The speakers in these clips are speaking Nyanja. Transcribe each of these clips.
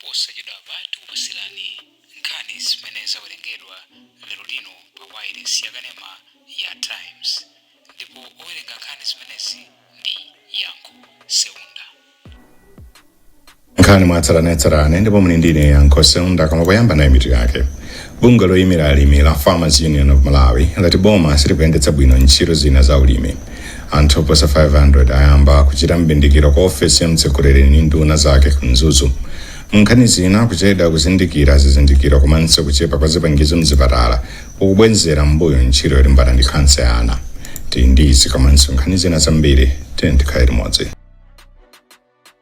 Posachedwapa tikupatsirani nkhani zimene zawerengedwa lero lino pa wailesi yakanema ya Times ndipo owerenga nkhani zimenezi ndi Yankho Seunda. nkhani mwatsatanetsatane ndipo muli ndine Yankho Seunda koma poyamba nayi mitu yake. Bungwe loyimira alimi la Farmers Union of Malawi lati boma silikuyendetsa bwino ntchito zina za ulimi. Anthu oposa 500 ayamba kuchita m'bindikiro ku ofesi ya mtsogoleri ndi nduna zake ku Mzuzu. Munkhani zina, kuchedwa kuzindikira zizindikiro komanso kuchepa kwa zipangizo mzipatala kukubwezera m'mbuyo ntchito yolimbana ndi khansa ya ana. Tili ndi izi komanso nkhani zina zambiri, tiyeni tikhale limodzi.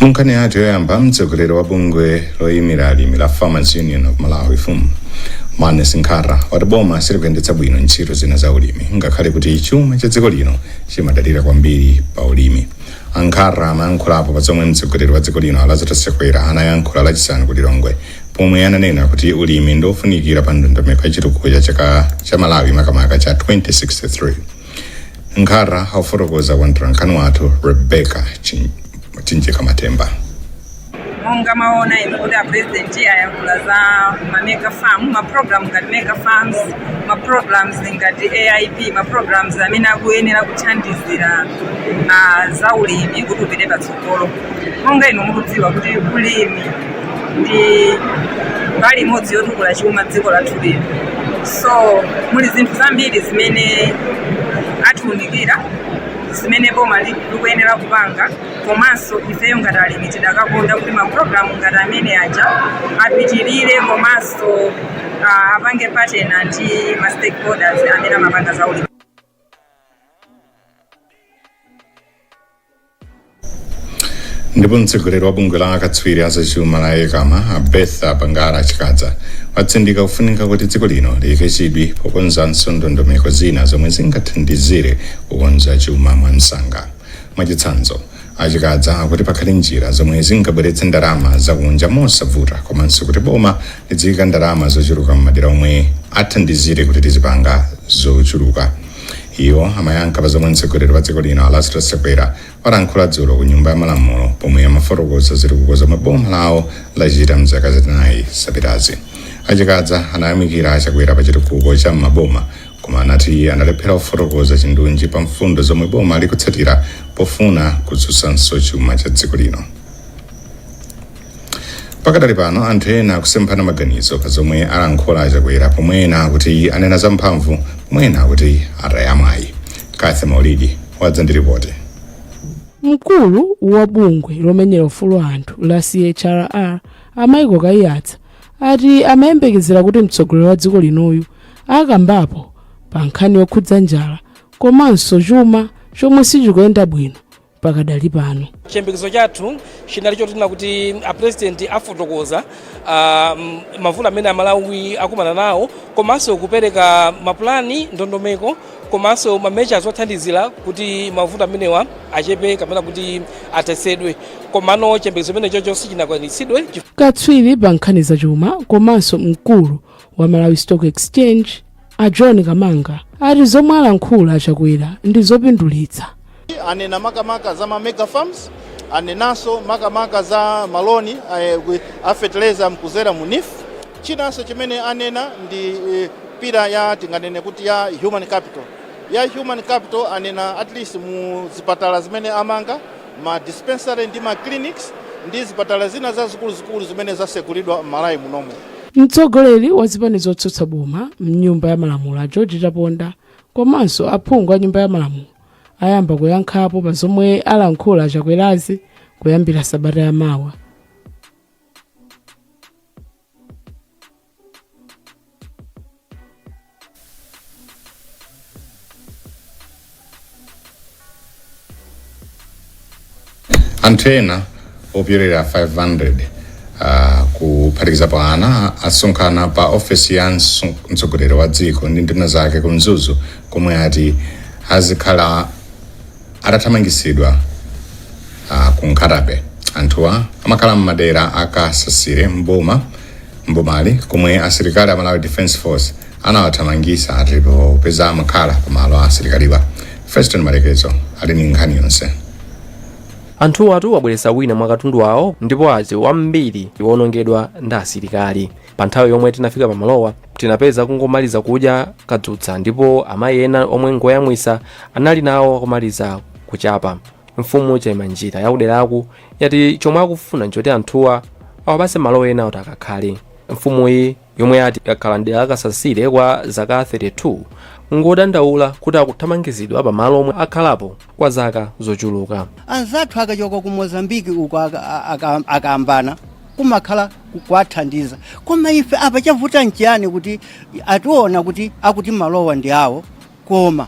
munkhani yathu yoyamba mtsogoleri wa bungwe loyimira alimi la farmers union of malawi fum Maness Nkhata wati boma silikuyendetsa bwino ntchito zina za ulimi ngakhale kuti chuma cha dziko lino chimadalira kwambiri pa ulimi a Nkhata amayankhulapo pa zomwe mtsogoleri wa dziko lino a Lazarus Chakwera anayankhula lachisanu ku lilongwe pomwe ananena kuti ulimi ndi ofunikira pa ndondomeko ya chitukuko cha chaka cha malawi makamaka cha 2063 nkhata akufotokoza kwa mtolankhani wathu rebecca Chim- Chimjeka Matemba monga mwaona inu kuti apurezidenti ayankhula za mamega farm maprogramu ngati mega farms maprograms ngati aip maprograms amene akuyenera kuthandizira ah, za ulimi kuti upite patsogolo monga inu mukudziwa kuti ulimi ndi mbali imodzi yotukula chuma dziko lathu lino so muli zinthu zambiri zimene atiunikira zimene boma li- likuyenera kupanga komanso ifeyo ngati alimi tidakakonda kuti mapulogalamu ngati amene aja apitirire komanso ah, apange partner ndi ma stakeholders amene amapanga za ulimi ndipo mtsogoleri wa bungwe la akatswiri azachuma la ECAMA a Bertha Bangara Chikadza watsindika kufunika kuti dziko lino liyike chidwi pokonzanso ndondomeko zina zomwe zingathandizire kukonza chuma mwamsanga mwachitsanzo a Chikadza akuti pakhale njira zomwe zingabweretse ndalama zakunja mosavuta komanso kuti boma liziika ndalama zochuluka m'madera omwe athandizire kuti tizipanga zochuluka iwo amayankha pa zomwe mtsogoleri wa dziko lino a Lazarus Chakwera walankhula dzulo ku nyumba ya malamulo pomwe amafotokoza zitukuko zomwe boma lawo lachita mzaka zinayi zapitazi a Chikadza anayamikira a Chakwera pa chitukuko cha m'maboma koma anati analephera kufotokoza chindunji pa mfundo zomwe boma likutsatira pofuna kudzutsanso chuma cha dziko lino pakadali pano anthu ena akusemphana maganizo pa zomwe alankhula achakwera pomwe ena akuti anena zamphamvu pomwe ena akuti ataya mwayi cathy maulidi wadza ndi ripoti mkulu wa bungwe lomenyera ufulu wa anthu la chrr a michael kaiyatsa ati amayembekezera kuti mtsogoleri wa dziko linoyu akambapo pa nkhani yokhudza njala komanso chuma chomwe sichikuyenda bwino pakadali pano. chiyembekezo chathu chinali chonena kuti apurezidenti afotokoza ah, m- mavuto amene amalawi akumana nawo komanso kupereka mapulani ndondomeko komanso ma measures othandizira kuti mavuto amenewa achepe kapena kuti athetsedwe komano chiyembekezo chimenecho sichinakwaniritsidwe katswiri pa nkhani zachuma komanso mkulu wa malawi stock exchange a john kamanga ati zomwe alankhula achakwera ndi zopindulitsa anena makamaka za ma mega farms anenanso makamaka za maloni eh, with- a fertilizer kudzera mu NEEF chinanso chimene anena ndi eh, pillar ya tinganene kuti ya human capital ya human capital anena at least mu zipatala zimene amanga ma dispensary ndi ma clinics ndi zipatala zina zazikuluzikulu zimene zasegulidwa m'Malawi munomu. Mtsogoleri wa zipani zotsutsa boma m'Nyumba ya Malamulo a George Chaponda komanso aphungu a Nyumba ya Malamulo ayamba kuyankhapo pa zomwe alankhula a Chakwerazi kuyambira sabata ya mawa. anthu ena opyolera 500 uh, kuphatikizapo ana asonkhana pa ofesi ya mso- mtsogoleri wa dziko ndi nduna zake ku mzuzu komwe ati azikhala Atathamangitsidwa ah, ku Nkhata Bay, anthuwa amakhala m'madera a Kasasire m'boma m'bomali komwe asilikali a Malawi Defence Force anawathamangitsa ati popeza amakhala pa malo a asilikaliwa. Feston Malekezo ali ndi nkhani yonse. Anthuwatu abweretsa wina mwa katundu wawo ndipo ati wambiri wawonongedwa ndi asilikali. pa nthawi yomwe tinafika pamalowa tinapeza akungomaliza kudya kadzutsa ndipo amayi ena omwe ngoyamwisa anali nawo akumaliza kuchapa mfumu chaimanjira yakuderaku yati chomwe akufuna nchoti anthuwa awapase malo ena oti akakhale mfumuyi yomwe yati yakhala mdera la kasasire kwa zaka 32 ngodandaula kuti akuthamangitsidwa pamalo omwe akhalapo kwa zaka zochuluka anzathu akachoka ku mozambiki uko aka- aka- akayambana kumakhala ku- kuwathandiza koma ife apa chavuta nchiyani kuti atiuza kuti akuti malowa ndi awo koma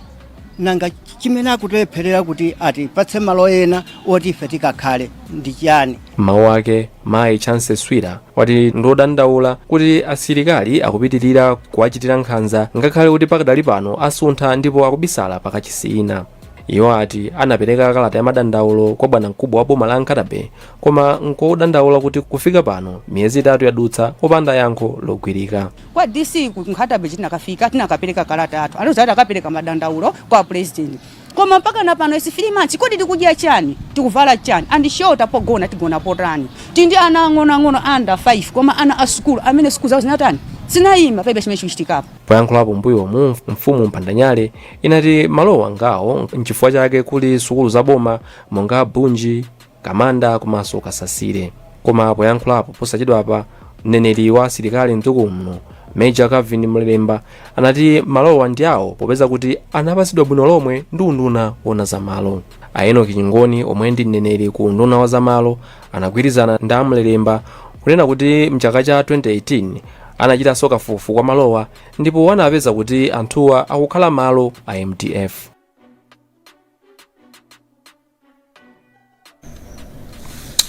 nanga ch- chimene akutilepherera kuti atipatse malo ena oti ife tikakhale ndi chiyani mawu ake mayi chancy swira wati ndodandaula kuti asilikali akupitirira kuwachitira nkhanza ngakhale kuti pakadali pano asuntha ndipo akubisala pakachisi ina iwo ati anapereka kalata ya madandaulo kwa bwanamkubwa wa boma la nkhatabay Koma nkodandaula kuti kufika pano miyezi itatu yadutsa opanda yankho logwirika. Kwa DC ku Nkhatabay tinakafika, tinakapereka kalata yathu. Anauza kuti akapereka madandaulo kwa pulezidenti. Koma mpaka na pano it's three months. Kodi tikudya chani? Tikuvala chani? And shelter pogona tigona potani? Tili ndi ana ang'onoang'ono under five koma ana a sukulu amene sukulu zawo zinatani? Zinaima palibe chimene chikuchitikapo. Poyankhulapo m'mbuyomu, mfumu Mpandanyale inati malowa ngawo nchifukwa chake kuli sukulu za boma monga Bunji, Kamanda komanso Kasasire. Koma poyankhulapo posachedwapa, mneneri wa asilikali mdziko muno Major Calvin Mlelemba anati malowa ndi awo popeza kuti anapatsidwa bwino lomwe ndi unduna wona za malo. A Enock Ching'oni omwe ndi mneneri ku unduna wa za malo anagwirizana ndi a Mlelemba kunena kuti mchaka cha 2018 anachitanso kafukufuku wa malowa ndipo anapeza kuti anthuwa akukhala malo a mdf.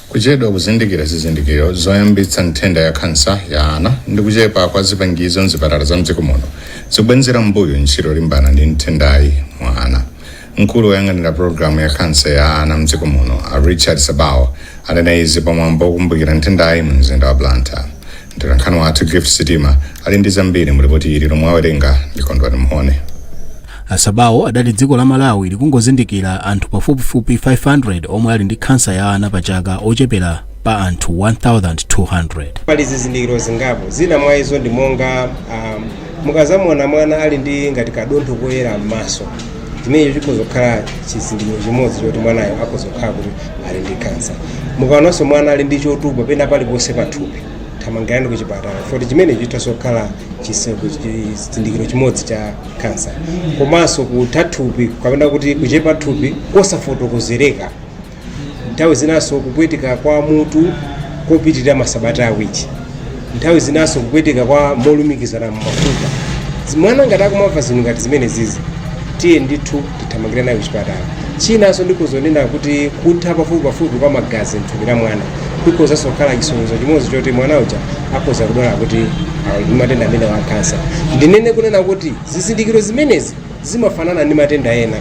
kuchedwa kuzindikira zizindikiro zoyambitsa nthenda ya kansa ya ana ndi kuchepa kwa zipangizo mzipatala za mdziko muno zikubwenzera mbuyo ntchito yolimbana ndi nthendayi mwa ana mkulu woyang'anira pologalamu ya kansa ya ana mdziko muno a richard sabawo anena izi pamwambo wokumbukira nthendayi mu mzinda wa blantyre mtolankhani wathu gift sitima ali ndi zambiri mu lipoti ili lomwe awerenga ndi kondwani mhone A Sabawo adati dziko la Malawi likungozindikira anthu pafupifupi 500 omwe ali ndi khansa ya ana pa chaka ochepera pa anthu 1,200. Pali zizindikiro zingapo, zina mwa izo ndi monga um, mukadzamuona mwana ali ndi ngati kadontho koyera m'maso, chimenecho chikhoza kukhala chizindikiro chimodzi choti mwanayo akhoza kukhala kuti ali ndi kansa. Mukaonanso mwana ali ndi chotupa pena paliponse pathupi, thamangirani ku chipatala, poti chimenecho chithanso kukhala chizindikiro chimodzi cha cancer komanso kutha thupi kapena kuti kuchepa thupi kosafotokozereka nthawi zinanso kupweteka kwa mutu kopitirira masabata awiri nthawi zinanso kupweteka kwa molumikizana m'mafupa mwana ngati akumamva zinthu ngati zimenezizi tiye ndithu tithamangire naye kuchipatala chinanso ndi chonena kuti kutha pafupipafupi kwa magazi mthupi la mwana kukhozanso kukhala chisonyezo chimodzi choti mwana uja akhoza kudwala kuti ali ndi matenda amenewa a kansa ndinene kunena kuti zizindikiro zimenezi zimafanana ndi matenda ena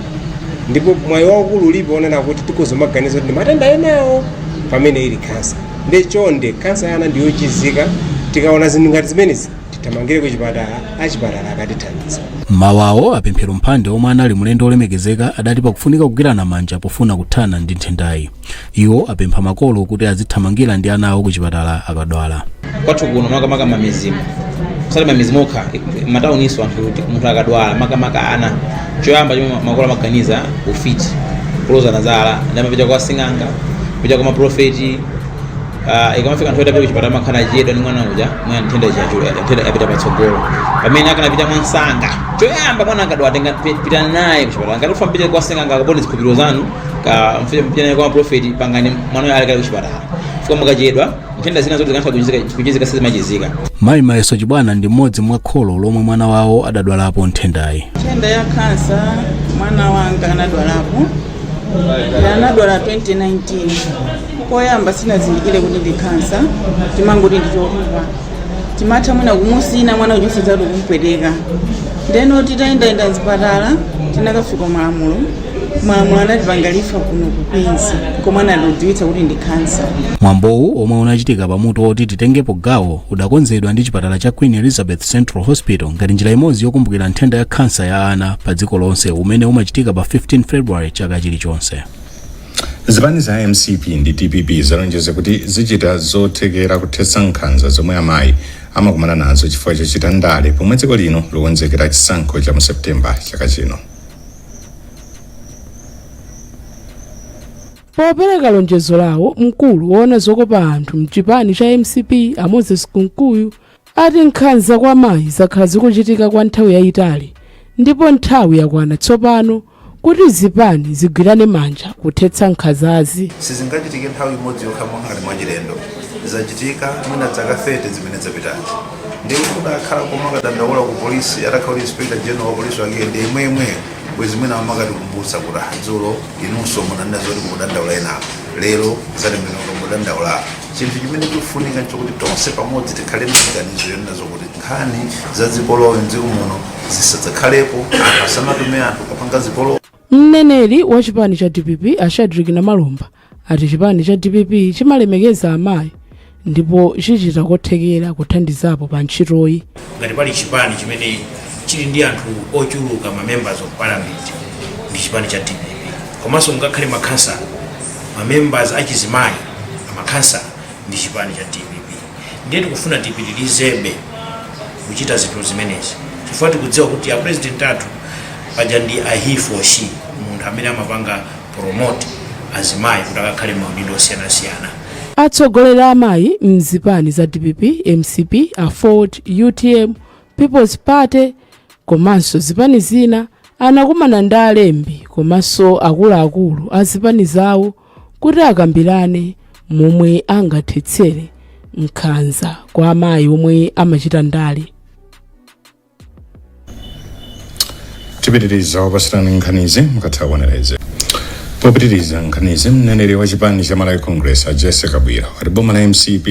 ndipo mwayi waukulu ulipo onena kuti tikhoza kumaganiza kuti ndi matenda enawo pamene ili kansa ndiye chonde kansa ya ana ndiyochizika tikaona zinthu ngati zimenezi tithamangire ku chipatala achipatala akatithandiza m'mawu awo a Pemphero Mphande omwe anali mlendo olemekezeka adati pakufunika kugwirana manja pofuna kuthana ndi nthendayi iwo apempha makolo kuti azithamangira ndi ana awo ku chipatala akadwala kwathu kuno makamaka m'mamidzimu osati m'mamidzimu okha m'matawuninso anthu kuti munthu akadwala makamaka ana choyamba chomwe makolo amaganiza ufiti kulozana zala ndiye amapita kwa sing'anga kupita kwa maprofeti Ah, ikamafika nthawi yopita kuchipatala amakhala achedwa ndi mwana uja mwana nthenda chachula nthenda yapita patsogolo pamene akanapita mwansanga choyamba mwana akadwala tenga pi- pita naye kuchipatala ngati ufuna upite kwa sing'anga kapena zikhulupiriro zanu ka mfike mpite naye kwa profeti pangani mwana uja ali kale kuchipatala chifukwa mukachedwa nthenda zina zoti zikanatha kuchizika- kuchizika sizimachizika mayi mayeso chibwana ndi mmodzi mwa kholo lomwe mwana wawo adadwalapo nthendayi nthenda ya kansa mwana wanga anadwalapo anadwala 2019 Poyamba sitinazindikire kuti ndi khansa tinkangoti ndi chotupa tinkatha mwina kumutsina mwana kuchonse dzatu kumpweteka ndiyeno titayendayenda mzipatala tinakafika malamulo malamulo anatipanga refer kuno ku Queens komwe anatidziwitsa kuti ndi khansa mwambowu omwe unachitika pa mutu woti titengepo gawo udakonzedwa ndi chipatala cha queen elizabeth central hospital ngati njira imodzi yokumbukira nthenda ya khansa ya ana pa dziko lonse umene umachitika pa 15 february chaka chilichonse zipani za mcp ndi dpp zalonjeza kuti zichita zothekera kuthetsa nkhanza zomwe amayi amakumana nazo chifukwa chochita ndale pomwe dziko lino likukonzekera chisankho cha mu septemba chaka chino popereka lonjezo lawo mkulu woona zokopa anthu mchipani cha mcp a moses kunkuyu ati nkhanza kwa amayi zakhala zikuchitika kwa nthawi yayitali ndipo nthawi yakwana tsopano kuti zipani zigwirane manja kuthetsa nkhanzazi. Sizingachitike nthawi imodzi yokha ngati mwachilendo, zachitika mwina zaka 30 zimene zapitazi ndiye kuti kudakhala komakadandaula ku polisi atakhala kuti inspector general wa polisi wake ndi yemweyemweyo bwezi mwina akumatikumbutsa kuti ah dzulo inunso munanena zoti mukudandaula enapo lero zatembenuka mudandaulapo chinthu chimene chikufunika nchokuti tonse pamodzi tikhale ndi maganizo onena zokuti nkhani za zipolowe mdziko muno zisadzakhalepo anthu asamatume anthu kukapanga zipolowe mneneri wa chipani cha dpp a shadric namalomba ati chipani cha dpp chimalemekeza amayi ndipo chichita kothekera kuthandizapo pa ntchitoyi ngati pali chipani chimene chili ndi anthu ochuluka ma members of parliament ndi chipani cha dpp komanso ngakhale makhansala ma members achizimayi amakhansala ndi chipani cha dpp ndiye tikufuna tipitirizebe kuchita zinthu zimenezi chifukwa tikudziwa kuti a president athu paja ndi a he for she munthu amene amapanga promote azimayi kuti akakhale maudindo osiyanasiyana atsogoleri a amayi mzipani za dpp mcp aford utm peoples party komanso zipani zina anakumana ndi alembi komanso akuluakulu a zipani zawo kuti akambirane momwe angathetsere nkhanza kwa amayi omwe amachita ndale tipitiriza kukupatsirani nkhanizi mukatha kuonera izi popitiriza nkhanizi mneneri wa chipani cha malawi congress a jesse kabwira wati boma la mcp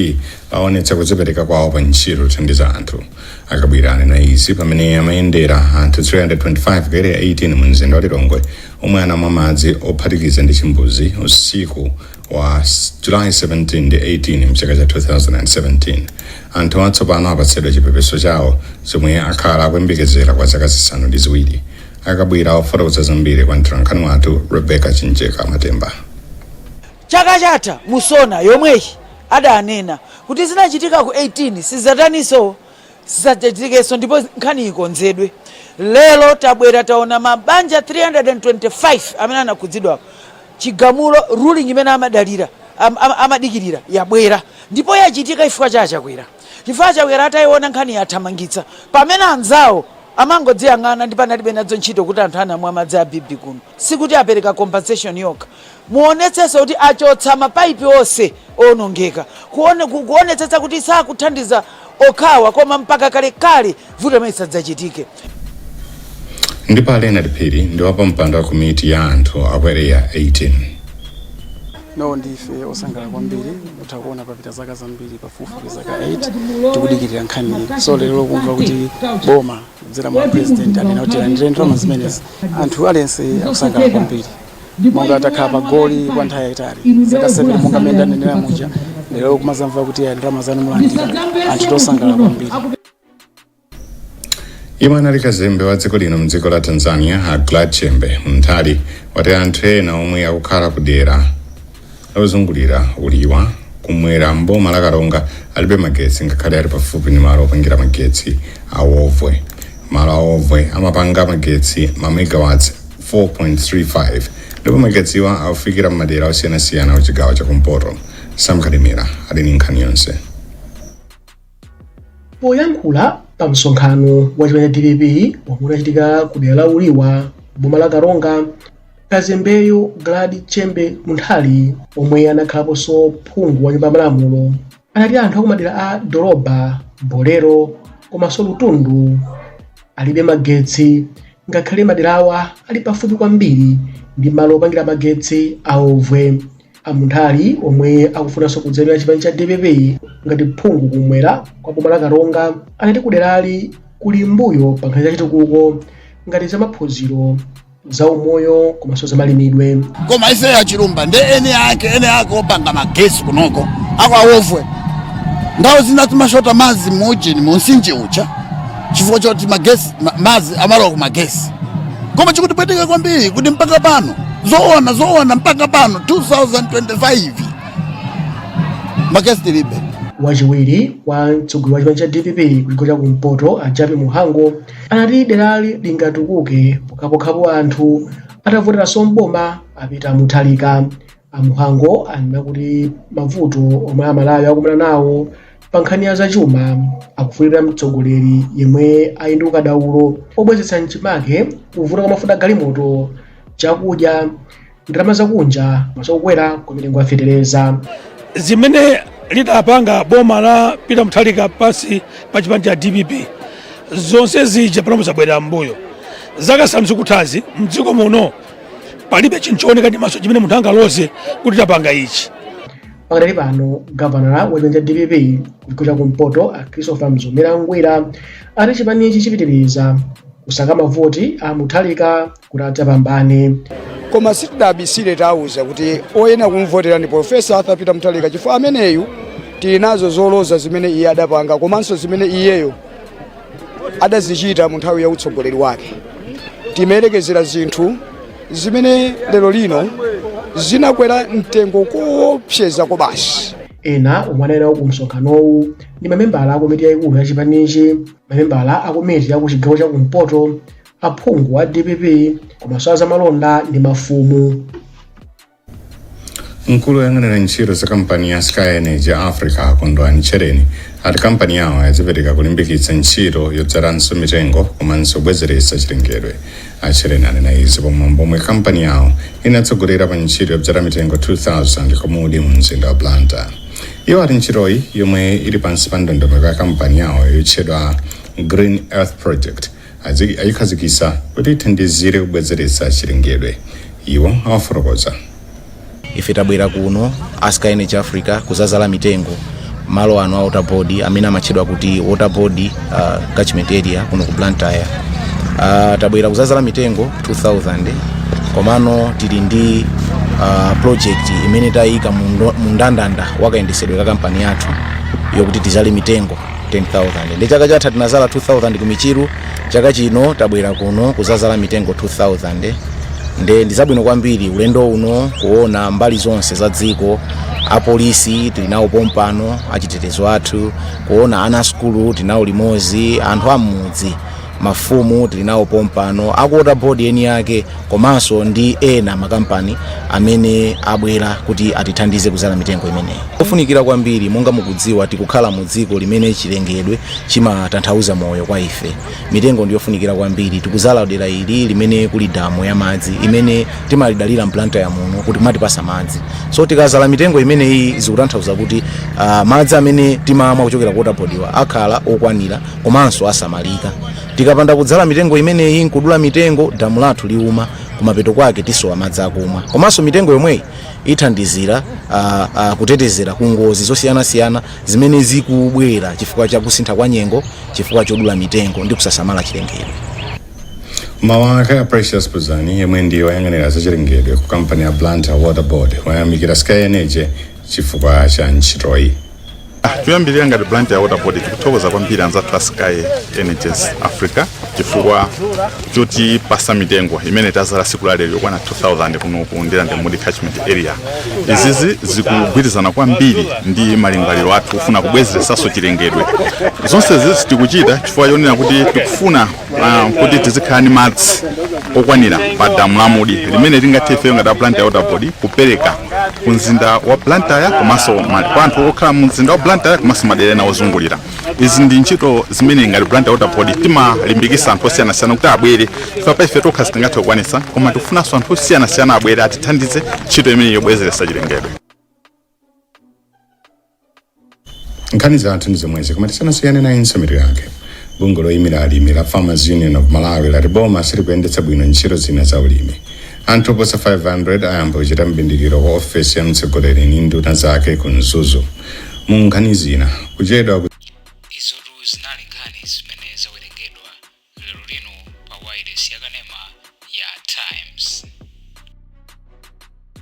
aonetsa kudzipereka kwawo pa ntchito yothandiza anthu akabwira anena izi pamene amayendera anthu 325 ku area 18 mu mzinda wa lilongwe omwe anamwa madzi ophatikiza ndi chimbuzi usiku wa july 17 ndi 18 mchaka cha 2017 Anthuwa tsopano apatsidwa chipepeso chawo chomwe akhala akuyembekezera kwa zaka zisanu ndi ziwiri. A Kabwira akufotokoza zambiri kwa mtolankhani wathu Rebecca Chimjeka Matemba. Chaka chatha mu Sona yomweyi adanena kuti zinachitika ku 18 sizataninso zisadzachitikenso ndipo nkhani ikonzedwe. Lero tabwera taona mabanja 325 amene anakhudzidwawo. Chigamulo, ruling imene amadalira, amadikirira yabwera ndipo yachitika chifukwa cha a Chakwera. Chifukwa a Chakwera ataiona nkhaniyi athamangitsa pamene anzawo amangodziyang'ana ndipo analibe nadzo ntchito kuti anthu anamwa madzi a bibi kuno. Sikuti apereka compensation yokha. Muonetsenso kuti achotsa mapaipi onse oonongeka. Kuone, ku, kuonetsetsa kuti sakuthandiza okhawa koma mpaka kalekale vuto limeneli lisadzachitike. ndipo a leonard phiri ndi wapampando wa komiti ya anthu a ku area 18 no ndife osangala kwambiri mutha kuona papita zaka zambiri pafupifupi zaka 8 tikudikirira nkhaniyi so lero kumva kuti boma kudzera mwa president anena kuti landire ndalama zimenezi anthu aliyense akusangala kwambiri monga takhala pa goli kwa nthawi yayitali zaka 7 monga mmene ndanenera muja lero kumazamva kuti ya ndalama zanu mulandira anthu akusangala kwambiri yemwe anali kazembe wa dziko lino mdziko la tanzania a glad chembe munthali wati anthu ena omwe akukhala ku dera lozungulira uliwa kumwera mboma la karonga alibe magetsi ngakhale ali pafupi ndi malo opangira magetsi awovwe malo awovwe amapanga magetsi ma megawatts 4.35 ndipo magetsiwa akufikira m'madera osiyanasiyana kuchigawo chakumpoto sam kalimira ali ndi nkhani yonse Poyankhula pa msonkhano wa chipani cha dpp omwe unachitika ku dera la Uliwa m'boma la Karonga, kazembeyo Glad Chembe Munthali omwe anakhalaponso phungu wa nyumba ya malamulo anati anthu akumadera a Doroba, Bolero komanso Lutundu alibe magetsi ngakhale maderawa ali pafupi kwambiri ndi malo opangira magetsi a Wovwe. a munthali omwe akufunanso kudzayimira chipani cha dpp ngati phungu kumwera kwa boma la karonga anati kuderali kuli mbuyo pa nkhani za chitukuko ngati za maphunziro za umoyo komanso za malimidwe koma ife ya chilumba ndi eneake eneake opanga magesi kunoko kwa Wovwe nthawi zina timashota madzi muujeni mumtsinje uja chifukwa choti magesi ma- madzi amalowa ku magesi koma chikutipweteka kwambiri kuti mpaka pano zoona zoona mpaka pano 2025 magesi tilibe wachiwiri wa mtsogoleri wa chipani cha dpp kuchigawo cha kumpoto a Jappie Mhango anati derali lingatukuke pokhapokhapo anthu atavoteranso mboma a Peter Mutharika A Mhango anena kuti mavuto omwe Amalawi akumana nawo pa nkhani ya zachuma akufunika mtsogoleri yemwe ali ndi ukadaulo pobwezeretsa mchimake kuvuta kwa mafuta galimoto, chakudya, ndalama zakunja komanso kukwera kwa mitengo ya fetereza. zimene lidapanga boma la Peter Mutharika pansi pa chipani cha DPP zonse zija panopo zabwerera m'mbuyo zaka zisanu zikuthazi mdziko muno palibe chinthu chooneka ndi maso chimene munthu angaloze kuti tapanga ichi pakadali pano gavanala wa chipani cha dpp kuchigawo cha kumpoto a christopher mzomera ngwira ati chipanichi chipitiriza kusaka mavoti a mutharika kuti adzapambane koma sitidabisire tawuza kuti oyenera kumvotera ndi profesa arthur peter mutharika chifukwa ameneyu tili nazo zoloza zimene iye adapanga komanso zimene iyeyo adazichita mu nthawi ya utsogoleri wake timayerekezera zinthu zimene lero lino zinakwera mtengo koopseza ko basi ena omwe anali ku msonkhanowu ndi mamembala a komiti yayikulu ya chipanichi mamembala a komiti ya ku chigawo cha kumpoto aphungu a dpp komanso azamalonda ndi mafumu mkulu woyang'anira ntchito za kampani ya sky energy africa a kondwani tchereni ati kampani yawo yadzipereka kulimbikitsa ntchito yodzalanso mitengo komanso kubwezeretsa chilengedwe a tchereni anena izi pamwambo omwe kampani yawo inatsogolera pa ntchito yodzala mitengo 2000 ku mudi mu mzinda wa blantyre iwo ati ntchitoyi yomwe ili pansi pa ndondomeko ya kampani yawo yotchedwa green earth project ayikhazikitsa kuti ithandizire kubwezeretsa chilengedwe iwo awafotokoza ife tabwera kuno as sky energy africa kuzazala mitengo malo ano a waterboard amene amatchedwa kuti waterboard uh, catchment area kuno ku blantyre uh, tabwera kuzazala mitengo 2000 komano tili ndi uh, project imene tayika mu ndo- mu ndandanda wakayendesedwe ka kampani yathu yokuti tizale mitengo 10000 ndi chaka chatha tinazala 2000 ku michiru chaka chino tabwera kuno kuzazala mitengo 2000 nde ndizabwino kwambiri ulendo uno kuona mbali zonse za dziko apolisi tili nawo pompano achitetezo athu kuona ana asukulu tilinawo limozi anthu am'mudzi Mafumu tili nawo pompano a ku Water Board eni ake komanso ndi ena makampani amene abwela kuti atithandize kuzala mitengo imeneyi. Ndiyofunikila kwambiri monga mukudziwa tikukhala mu dziko limene chilengedwe chimatanthauza moyo kwa ife. Mitengo ndiyofunikila kwambiri. Tikuzala dela ili limene kuli damu ya madzi imene timalidalila m'Blantyre muno kuti limatipasa madzi. So tikazala mitengo imeneyi zikutanthauza kuti madzi amene timamwa kuchokera ku water board wa akhala okwanila. komanso osamalika tikapanda kudzala mitengo imeneyi nkudula mitengo damu lathu liuma kumapeto kwake tisowa madzi akumwa komanso mitengo yomweyi ithandizira ah, ah, kutetezera ku ngozi zosiyanasiyana zimene zikubwera chifukwa cha kusintha kwa nyengo chifukwa chodula mitengo ndi kusasamala chilengedwe m'mau ake a precious puzani yemwe ndi woyang'anira zachilengedwe ku kampani ya blantyre water board wayamikira sky energy chifukwa cha ntchitoyi Ah, choyambirira ngati blantyre water board tikuthokoza kwambiri anzathu a sky energies africa chifukwa chotipasa mitengo imene tazala siku lalero yokwana 2000 kuno ku ndirande mudi catchment area izizi zikugwirizana kwambiri ndi malingaliro athu kufuna kubwezeresanso chilengedwe zonse zizi tikuchita chifukwa chonena kuti tikufuna Ah, kuti tizikhala ndi madzi okwanira pa damu la mudi limene tingathe ifeyo ngati a blantyre water board kupereka ku mzinda wa blantyre komanso ma- kwa anthu okhala mu mzinda wa blantyre komanso madera ena ozungulira izi ndi ntchito zimene ngati blantyre water board timalimbikisa anthu osiyanasiyana kuti abwere chifukwa pa ife tokha sitingathe kukwanisa koma tikufunanso anthu osiyanasiyana abwere atithandize ntchito imeneyi yobwezeretsa chilengedwe nkhani zathu ndi zomwezi koma tisanasiyane nayinso mitu yake bungwe loyimira alimi la farmers union of malawi lati boma silikuyendetsa bwino ntchito zina za ulimi anthu oposa 500 ayamba kuchita mbindikiro ku ofesi ya mtsogoleri ndi nduna zake ku mzuzu mu nkhani zina kuchedwa ku izotu zinali nkhani zimene zawerengedwa lero lino pa wailesi yakanema ya times